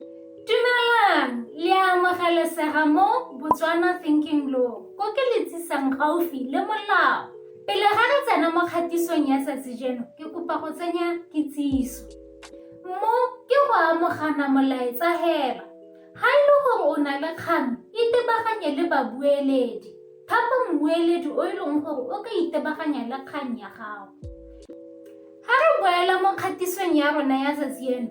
Dumelang, le a amogelesega mo Botswana Thinking Law, ko ke le tsisang gaufi le molao. Pele ga re tsena mo kgatisong ya tsatsi jeno, ke kopa go tsenya kitsiso. Mo ke go amogana molaetsa hela. Ga e le gore o na le kgang, itebaganye le babueledi. Thapa mmueledi o e leng gore o ka itebaganya le kgang ya gago. Ga re boela mo kgatisong ya rona ya tsatsi eno,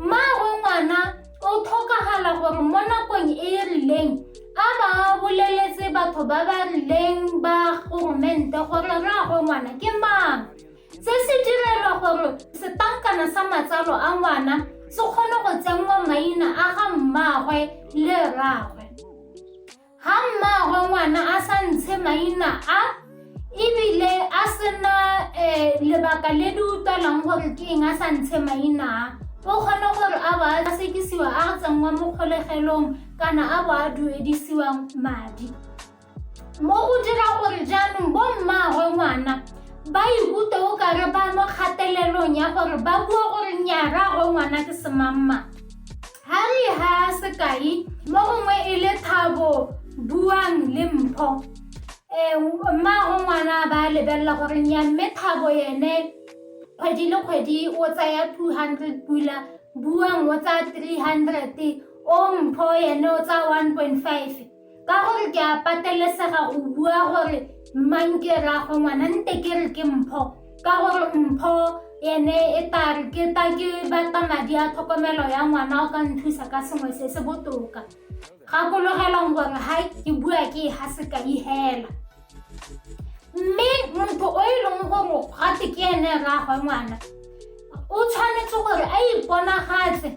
Mmaagwe ngwana o tlhokagala gore mo nakong e e rileng a ba boleletse batho ba ba rileng ba goromente gore rraagwe ngwana ke mang se se direlwa gore setankana sa matsalo a ngwana se kgone go tsenngwa maina a ga mmaagwe le rraagwe Ga mmaagwe ngwana a sa ntshe maina a ebile a sena um lebaka le le utlwalang gore ke eng a sa ntshe maina a o kgone gore a bo a sekisiwa a tsenngwa mo kgolegelong kana a bo a duedisiwa madi mo go dira gore jaanong bo mmaagwe ngwana ba ikutlwe o kare ba mo kgatelelong ya gore ba bua gore nnyaragwe ngwana ke semamma Ha re ha sekai mo gongwe e le thabo buang le mpho um mma go ngwana ba lebelela gore nya mme thabo yene kgwedi le kgwedi o tsaya two hundred pula buang o tsaya three hundred o mpho yene o tsaya one point five ka gore ke a patelesega go bua gore mang ke raago ngwana nte ke re ke mpho ka gore mpho ene e tare ke ta ke batla madi a tlhokomelo ya ngwana o ka nthusa ka sengwe se se botoka gakologelong gore ga ke bua ke e ga se ka ihela mme motho o e leng gore gate ke ene rraagwe ngwana o tshwanetse gore a iponagatse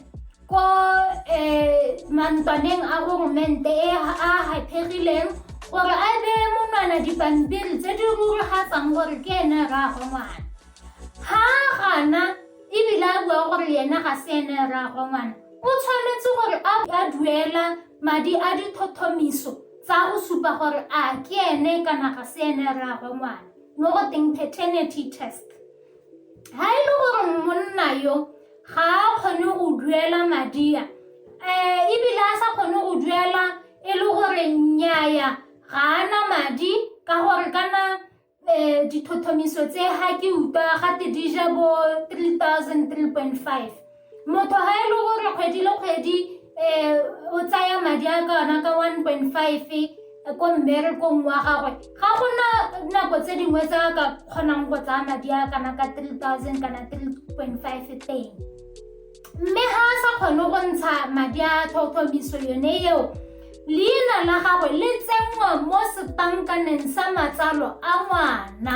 Ko um mantlwaneng a goromente e a gaphegileng gore a beye monwana dipampiri tse di ruragatsang gore ke ene rraagwe ngwana ga gana ebile a bua gore yena ga se ene rraagwe ngwana o tshwanetse gore a duela madi a ditlhotlhomiso tsa go supa gore a ke ene kana ga se ene rraagwe ngwana mo go teng paternity test ga e le gore monna yo ga a kgone go duela madi a um ebile a sa kgone go duela e le gore nnyaya ga ana madi ka gore kana um dithothomiso tse ga ke utlwa gate di ja bo 3003.5 motho ga e le gore kgwedi le kgwedi um o tsaya madi a ka ona ka 1.5 ko mmerekong wa gagwe ga gona nako tse dingwe tsa ka kgonang go tsaya madi a kana ka 3000 kana 3.5 teng mme ga a sa kgone go ntsha madi a tlhotlhomiso yone eo leina la gagwe le tsenngwa mo setankaneng sa matsalo a ngwana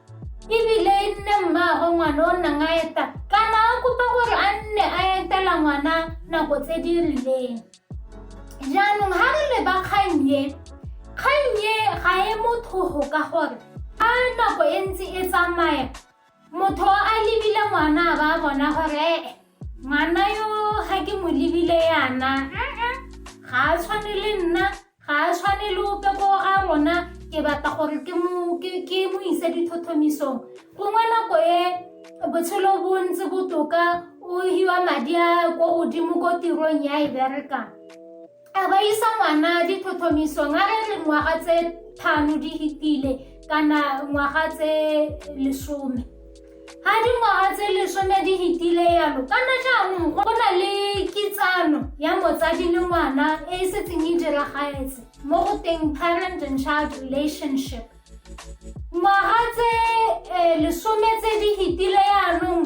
ebile e nne mmaagwe ngwana o nnang a eta kana a kopa gore a nne a etela ngwana nako tse di rileng jaanong ga re leba kgannye kgannye ga e mothogo ka gore a nako e ntse e tsamaya motho a lebile ngwana ba bona gore ee ngwana yo ga ke mo lebile yana ga a tshwane le nna Ga a tshwane le ope ko ga rona ke batla gore ke mo ise dithothomisong gongwe nako e botshelo bo ntse botoka o hiwa madi a ko godimo ko tirong ya e berekang a ba isa ngwana dithothomisong a re re ngwaga tse thano di hitile kana ngwaga tse lesome Ga dingwaga tse lesome di fetile yalo kana jaanong go na le kitsano ya motsadi le ngwana e e setseng e diragaetse mo go teng parent and child relationship ngwaga tse eh, lesome tse di fetile yaanong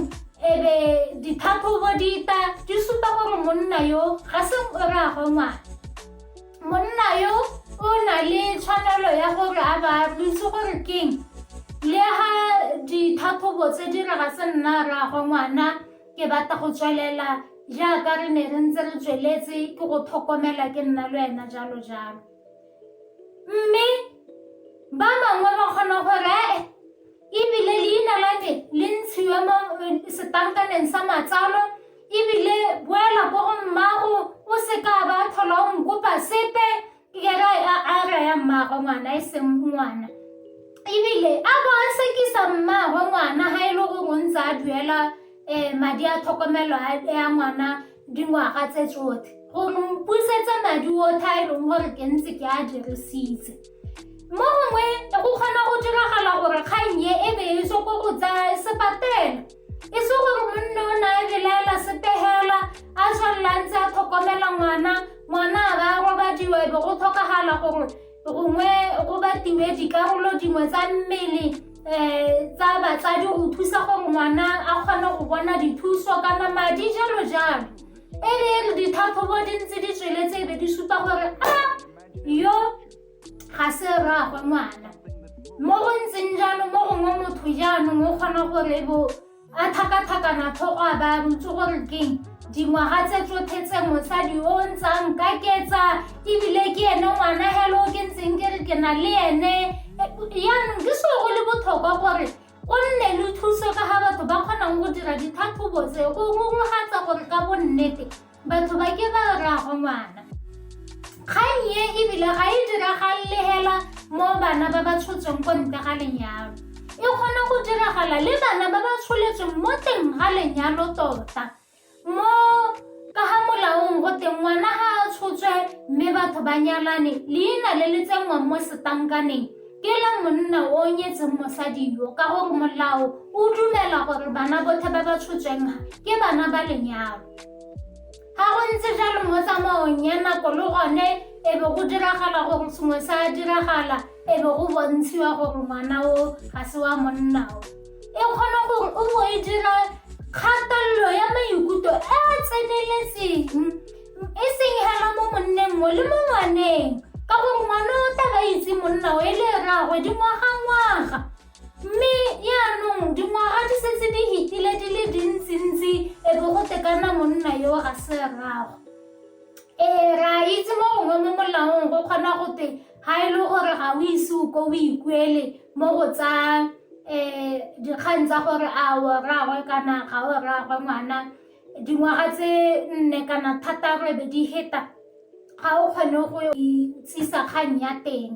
ebe ditlhatlhobo dita di supa gore monna yo ga se o ragwe ngwana monna yo o na le tshwanelo ya gore a ba re itse gore keng le ga ditlhatlhobo tse di re ga se nna rraagwe ngwana ke batla go tswelela jaaka re ne re ntse re tsweletse ke go tlhokomela ke nna le wena jalo jalo mme ba bangwe ba kgona gore ee ebile leina la me le ntshiwe mo eh, setankaneng sa matsalo ebile boela ko go mmago o se ka ba tlhola o nkopa sepe ke kere a re ya mmago ngwana e seng ngwana ebile a bo a sekisa mmago ngwana ga e le gore o ntse a duela um madi a tlhokomelo ya ngwana dingwaga tse tsotlhe gore mpusetsa madi otlhe a e leng gore ke ntse ke a dirisitse mo gongwe go kgona go diragala gore kgang e e be e se ko go tsaya sepatela e se gore monne o na e belaela sepegela a tshwanela ntse a tlhokomela ngwana ngwana a ba robadiwa e be go tlhokagala gore gongwe go batiwe dikarolo dingwe tsa mmele um tsa batsadi go thusa gore ngwana a kgone go bona dithuso kana madi jalo jalo e le e re ditlhatlhobo di ntse di tsweletse e be di supa gore a yo ga se rraagwe ngwana mo go ntseng jalo mo gongwe motho jaanong o kgona gore bo A tlhakatlhakana tlhogo a baya botse gore keng dingwaga tse tsotlhe tse mosadi o ntshang ka ketsa ebile ke ene ngwana helo ke ntseng ke re ke na le ene yaanong ke seo go le botlhokwa gore o nne le thuso ka ga batho ba kgonang go dira ditlhatlhobo tse go ngongogatsa gore ka bonnete Batho ba ke ba raago ngwana. Kgang e ebile ga e diragalele hela mo bana ba ba tshotsweng ko ntle ga lenyalo. E kgona go diragala le bana ba ba tsholetsweng mo teng ga lenyalo tota. Mo ka ga molaong go teng ngwana ga a tshotswe mme batho ba nyalane leina le le tsenngwang mo setankaneng ke la monna o nyetseng mosadi yo ka gore molao o dumela gore bana botlhe ba ba tshotsweng ke bana ba lenyalo ga go ntse jalo mo tsamaong ya nako le gone e be go diragala gore sengwe sa diragala e be go bontshiwa gore ngwana o ga se wa monna o e kgona gore o bo e dira kgatelelo ya maikutlo e a tseneletseng e seng hela mo monneng mo le mo ngwaneng ka gore ngwana o tla ba itse monna o e le rraagwe dingwaga ngwaga Mme jaanong dingwaga di setse di hitile di le dintsintsi e be go tekana monna yo a se rrago. Ee, re a itse mo gongwe mo molaong go kgona go te ga e le gore ga o ise o ko o ikuele mo go tsa um dikgang tsa gore a o rraagwe kana ga o rraagwe ngwana dingwaga tse nne kana thataro e be di heta ga o kgone go itsisa kgang ya teng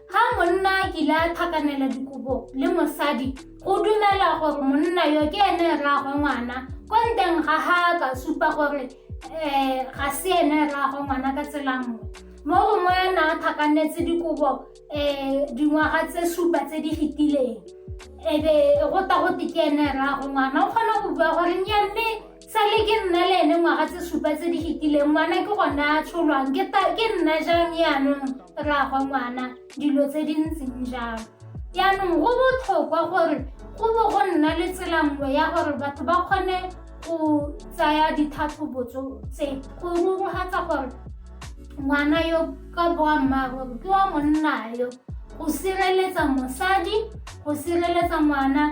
Ga monna a kile a tlhakanela dikobo le mosadi, go dumela gore monna yo ke ene rraagwe ngwana. Ko nteng ga ga ka supa gore um ga se ene rraagwe ngwana ka tsela nngwe. Mo gongwe a na a tlhakanetse dikobo um dingwaga tse supa tse di fetileng, e be go ta gote ke ene rraagwe ngwana. O kgona go bua gore nnyaa mme sa le ke nna le ene ngwaga tse supa tse di fetileng ngwana ke gone a tsholwang ke ta- ke nna jang yaanong rraagwe ngwana dilo tse di ntseng jalo yaanong go botlhokwa gore go bo go nna le tsela nngwe ya gore batho ba kgone go tsaya ditlhatlhobo tso- tse go rurugatsa gore ngwana yo ka boammaaruri ke wa monna yo go sireletsa mosadi go sireletsa ngwana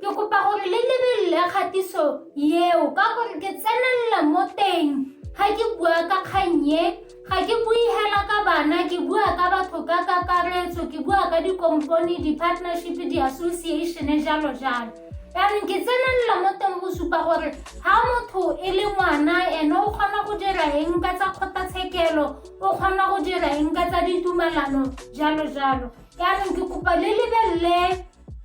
Ke kopa gore le lebelele kgatiso eo ka gore ke tsenelela mo teng ga ke bua ka kgannye ga ke bue hela ka bana ke bua ka batho ka kakaretso ke bua ka dikompone di-partnership di-association jalo jalo jaanong ke tsenelela mo teng go supa gore ga motho e le ngwana ene o kgona go dira eng ka tsa kgotlatshekelo o kgona go dira eng ka tsa ditumalano jalo jalo jaanong ke kopa le lebelele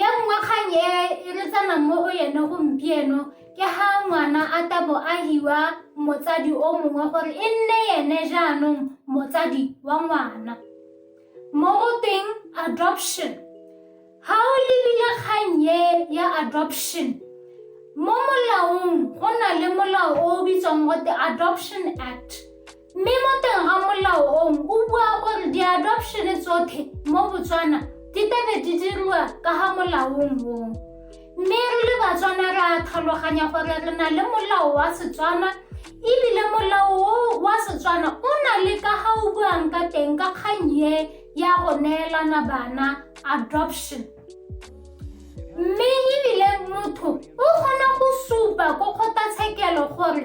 ya nngwe kgang e e re tsanang mo go yone gompieno ke ga ngwana a tabo a hiwa motsadi o mongwe gore e nne ene jaanong motsadi wa ngwana mo go teng adoption ga o lebile kgang e ya adoption mo molaong go na le molao o o bitswang gote adoption act Mme mo teng ga molao ong o bua gore di-adoption tsotlhe mo Botswana di tebe di diriwa ka ga molaong mong. Mme re le Batswana re a tlhaloganya gore re na le molao wa Setswana ebile molao o wa Setswana o na le ka ga o buang ka teng ka kgang ye ya go neelana bana adoption. Mme ebile motho o kgona go supa ko kgotlatshekelo gore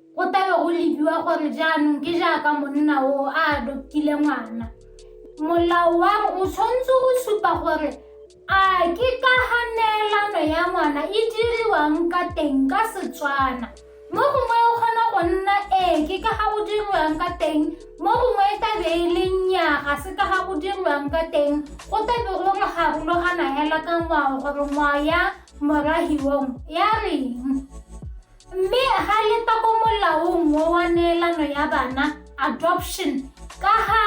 Go tla be go lebiwa gore jaanong ke jaaka monna o a adoptile ngwana. Molao wa o tshwanetse go supa gore a ke ka ga neelano ya ngwana e diriwang ka teng ka Setswana. Mo gongwe o kgona go nna ee ke ka ga go diriwang ka teng, mo gongwe e tlabe e le nnyaa ga se ka ga go diriwang ka teng. Go tlabe go re garologana hela ka ngwao gore ngwao ya morahiwong ya reng. Mme ga le twa ko molaong o wa neelano ya bana, adoption, ka ga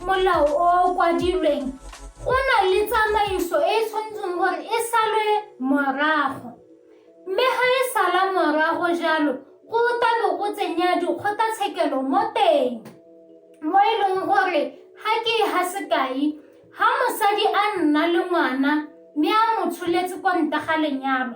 molao o o kwadilweng, go na le tsamaiso e e tshwanetseng gore e salwe morago. Mme ga e sala morago jalo, go tla bo go tsenya dikgotlatshekelo mo teng, mo e leng gore ga ke e ga sekai, ga mosadi a nna le ngwana mme a mo tsholetse kwa ntle ga lenyalo,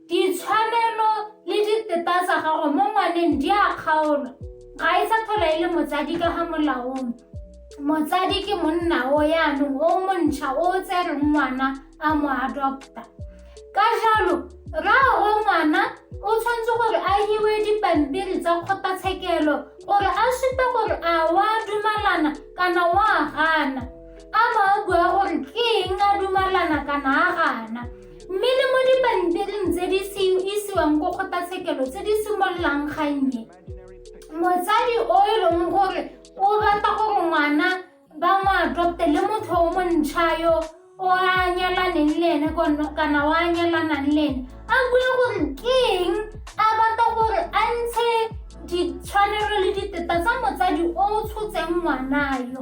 Ditshwanelo le diteta tsa gago mo ngwaneng di a kgaolwa. Ga e sa tlhola e le motsadi ka ga molaong. Motsadi ke monna o yaanong o montšha o o tsereng ngwana a mo adopta. Ka jalo, rraagwe ngwana o tshwanetse gore a hiwe dipampiri tsa kgotlatshekelo gore a supe gore a wa dumalana kana wa gana a ba a bua gore ke eng a dumalana kana a gana Mme le mo dipampiring tse di isiwang ko kgotlatshekelo tse di simololang gannye motsadi o e leng gore o rata gore ngwana ba mo adopte le motho o montšha yo o a nyalaneng le ene kana o a nyalanang le ene a bue gore ke eng a batla gore a ntshe ditshwanelo le diteta tsa motsadi o o tshotseng ngwana yo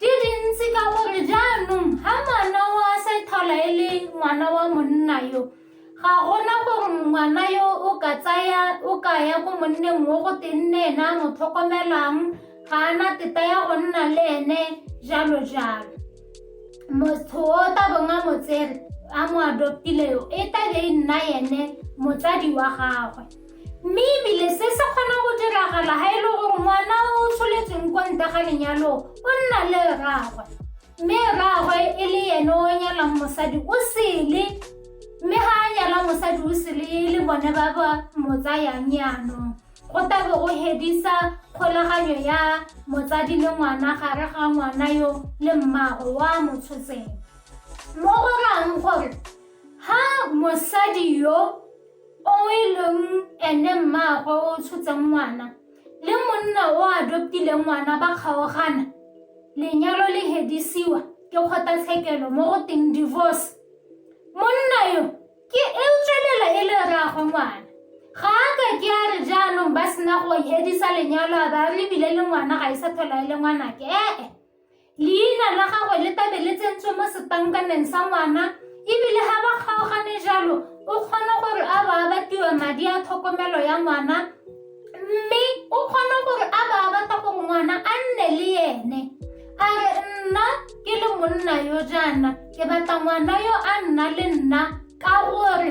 di dintsi ka gore jaanong ga ngwana wa sethola e le ngwana wa monna yo ga gona gore ngwana yo o ka tsaya o ka ya ko monneng mo go tenne ena mo tlhokomelang ga ana teta ya go nna le ene jalo jalo motho o tabong a motsere a mo adoptile yo e tabe e nna ene motsadi wa gagwe mme ebile se se kgona go diragala ga e le gore ngwana o tsholetsweng kwa nta ga lenyalo o nna le rragwe mme rragwe e le ene o nyalang mosadi o sele mme ga a nyala mosadi o sele e le bone ba ba mo tsayang yanong go tabe go hedisa kgolaganyo ya motsadi le ngwana gare ga ngwana yo le mmago wa mo tshotseng mo go rang gore ha mosadi yo O e leng ene mmaagwe o o tshotseng ngwana le monna o a adoptileng ngwana ba kgaogana, lenyalo le hedisiwa ke kgotlatshekelo mo go teng divorce. Monna yo ke e tswelela e le rraagwe ngwana. Ga a ka ke a re jaanong ba sena go hedisa lenyalo a ba re ebile le ngwana ga e sa tlhola e le ngwanake ee. Leina la gagwe le tabe le tsentswe mo setankaneng sa ngwana ebile ga ba kgaogane jalo o kgona gore a ba abatiwa madi a tlhokomelo ya ngwana mme o kgona gore a ba abata gore ngwana a nne le ene a re nna ke le monna yo jaana ke batla ngwana yo a nna le nna ka gore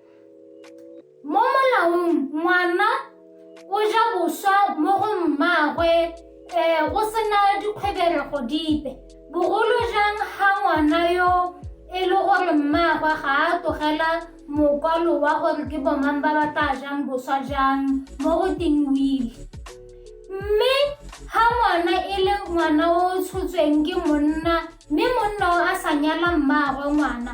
mo molaong ngwana o ja boswa mo go mmaagwe um go sena dikgweberego dipe bogolo jang ga ngwana yo e le gore mmaagwe ga a tlogela mokwalo wa gore ke bomang ba ba tla jang boswa jang mo go tingwile mme ga ngwana e le ngwana o tshotsweng ke monna mme monna o a sa nyala mmaagwe ngwana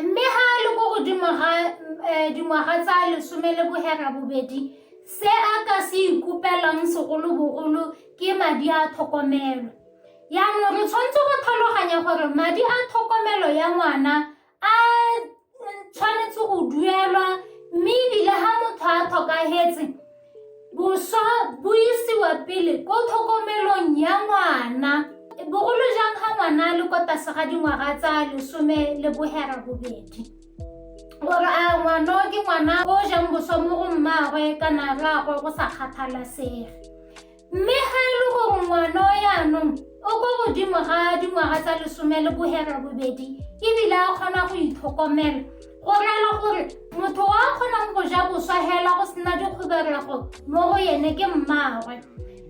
Mme ha a le ko godimo ga eh, dingwaga tsa lesome le bohera bobedi, se a ka se ikopelang segolobogolo ke madi a tlhokomelo. Yaanong re tshwanetse go tlhaloganya gore madi a tlhokomelo ya ngwana a tshwanetse go duelwa mme ebile ha motho a tlhokagetse Boswa bo isiwa pele ko tlhokomelong ya ngwana bogolo jang ga ngwana a le kwa tlase ga dingwaga tsa lesome le bohera bobedi gore a ngwana ke ngwana o jang boswa mo go mmaagwe kana rraagwe go sa kgathalasege Mme ga e le gore ngwana o yaanong o ko godimo ga dingwaga tsa lesome le bohera bobedi ebile a kgona go itlhokomela go rela gore motho wa kgonang go ja boswa hela go sena dikgoberego mo go yene ke mmaagwe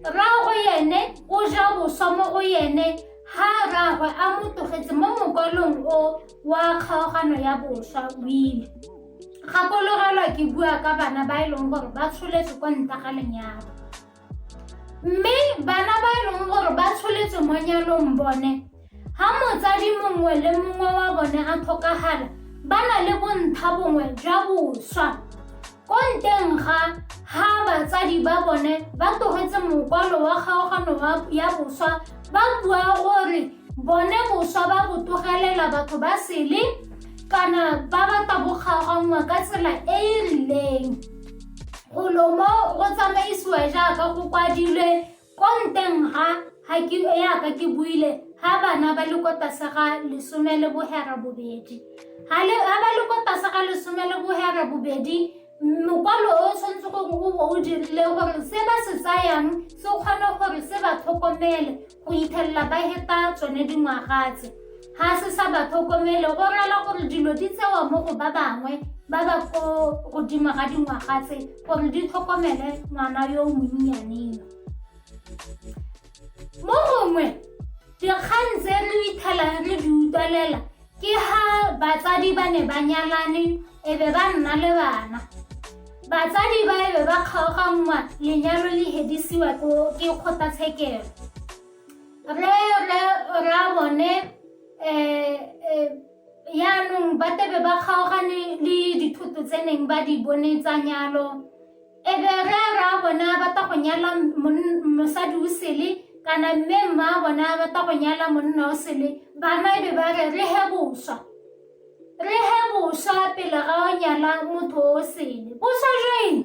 rraagwe yene o ja boswa mo go yene ha rraagwe a mo tlogetse mo mokwalong o wa kgaogano ya boswa o ile gakologelwa ke bua ka bana ba e leng gore ba tsholetse kwa nta ga lenyalo mme bana ba e leng gore ba tsholetse mo nyalong bone ga motsadi mongwe le mongwe wa bone a tlhokagala ba na le bontsha bongwe jwa boswa ko nteng ga ga batsadi ba bone ba tlogetse mokwalo wa kgaogano ya boswa ba bua gore bone boswa ba go tlogelela batho ba sele kana ba ba tabogaganngwa ka tsela e e rileng golo mo go tsamaisiwa jaaka go kwadilwe ko nteng ga ga ke yaka ke buile ga bana ba le ko tlase ga lesome le bohera bobedi ga ba le ko tlase ga lesome le bohera bobedi mokwalo o tshwanetse gore o bo o dirile gore se ba se tsayang se kgone gore se ba tlhokomele Go ithelela ba heta tsone dingwaga tse ga se sa ba tlhokomele go rela gore dilo di tsewa mo go ba bangwe ba ba ko godimo ga dingwaga tse gore di tlhokomele ngwana yo o monnyaneng mo gongwe dikgang tse re ithelang re di utlwalela Ke ha batsadi ba ne ba nyalane e be ba nna le bana. Batsadi ba e be ba kgaoganngwa lenyalo le hedisiwa ko ke kgotlatshekelo. Re re ra bone um yaanong ba tebe ba kgaogane le dithoto tse neng ba di bone tsa nyalo. e be ge ra bona ba ta go nyala mosadi o sele kana mme mma bona ba ta go nyala monna o sele bana e be ba re re he boswa re he boswa pele ga o nyala motho o sele boswa jeng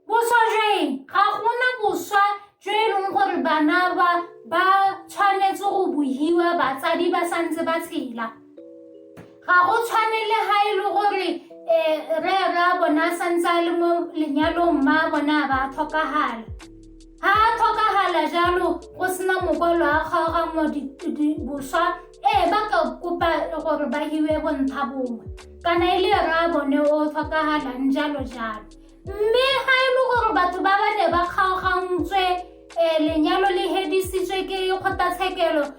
boswa jeng ga gona boswa jo e leng gore bana ba ba tshwanetse go bohiwa batsadi ba santse ba tshela ga go tshwane le ga e le gore um re ra bona a santse a le mo lenyalong mma bona a ba tlhokagala ga a tlhokagala jalo go sena mokwalo a kgaoganngwa boswa ee ba ka kopa gore ba hiwe bontsha bongwe kana e le ra bone o tlhokagalang jalo jalo mme ga e le gore batho ba ba ne ba kgaogantswe um lenyalo le hedisitswe ke kgotlatshekelo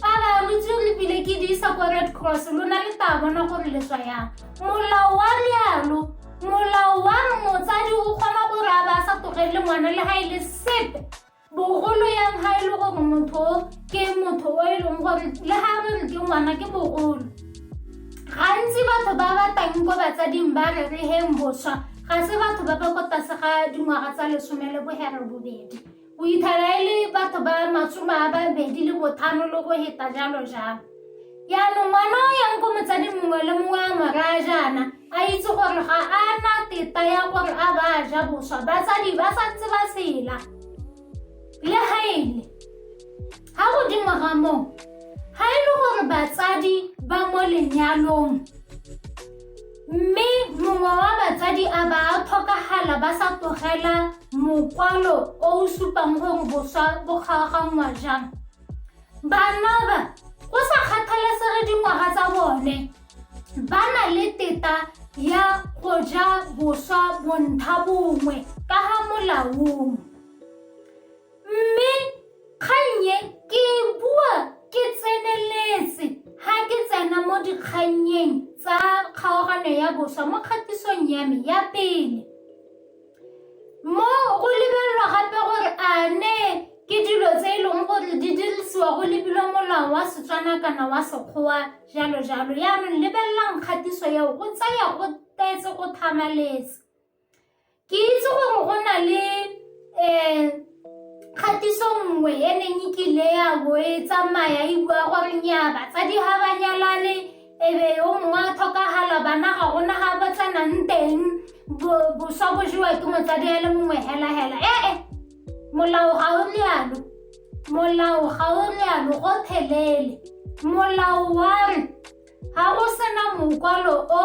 Fala, lo tsere lebile ke di isa kwa Red Cross, lo na le taba bona gore le tswa yang. Molao wa lealo, molao wa motsadi o kgona gore a ba sa tlogelele ngwana le ga e le sepe. Bogolo yang ga e le gore motho ke motho o e leng gore le ga re re ke ngwana ke bogolo. Gantsi batho ba ba tang ko batsading ba re re heng boswa, ga se batho ba ba ko tlase ga dingwaga tsa lesome le bohere bobedi. O itharele batho ba masome a babedi le bothano le go heta jalo jalo. Yaanong ngwana o yang ko motsadi mongwe le mongwe a mo raya jaana a itse gore ga a na teta ya gore a ba a ja boswa batsadi ba santse ba sela le ga ele Ga godimo ga moo, ga e le gore batsadi ba mo lenyalong mme mongwe wa batsadi a ba a tlhokagala ba sa tlogela mokwalo o o supang gore boswa bo kgaoganngwa jang bana ba go sa kgathalesege dingwaga tsa bone ba na le teta ya go ja boswa bontlha bongwe ka ga molaong Mme kgang e ke e bua ke tseneletse ha ke tsena mo dikgannyeng tsa kgaogano ya boswa mo kgatisong ya me ya pele. Mo go lebelelwa gape gore a ne ke dilo tse e leng gore di dirisiwa go lebilwe molao wa Setswana kana wa Sekgowa jalo jalo. Yaanong lebelelang kgatiso eo go tsaya go tetse go thamaletse. Ke itse gore go na le um kgatiso nngwe e neng e kile ya bo e tsamaya e bua gore nya batsadi ga ba nyalane ebe yo mongwe a tlhokagala bana ga gona ga ba tlanang teng boswa bo jewa ke motsadi a le mongwe helahela ee eh, eh, molao ga o lealo molao ga o lealo go thelele molao wa re ga go sena mokwalo o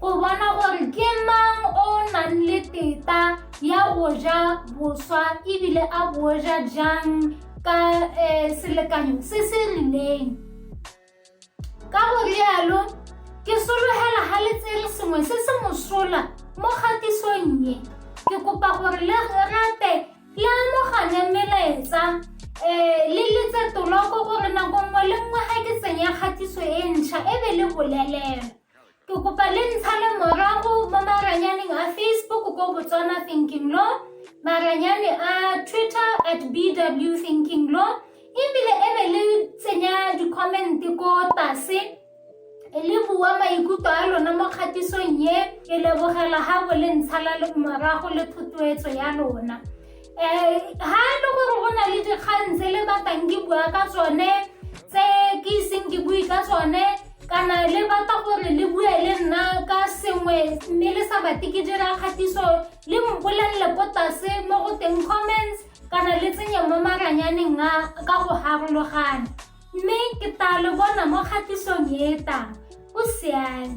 go bona gore ke mang o nang le teta ya go ja boswa ebile a bo ja jang ka um selekanyo se se rileng ka go rialo ke sologela ga le tsere sengwe se se mosola mo kgatisong ye ke kopa gore le rate le amogane melaetsa um le letse toloko gore nako nngwe le nngwe ga ke tsenya kgatiso e ntšha e be le bolelelwa Ke kopa le ntshale morago mo maranyaneng a Facebook ko Botswana Thinking Law, maranyane a Twitter at BW Thinking Law, ebile e be le tsenya di-comment ko tase le bua maikutlo a lona mo kgatisong ye ke lebogela ga bo le ntshala morago le thotloetso ya lona um ga e le gore go na le dikgang tse le batang ke bua ka tsone tse ke iseng ke bue ka tsone kana le batla gore le bue le nna ka sengwe mme le sa bate ke dira kgatiso le mpolelele ko tlase mo go teng comments kana le tsenye mo maranyaneng a ka go harologana mme ke tla le bona mo kgatisong e tang o siame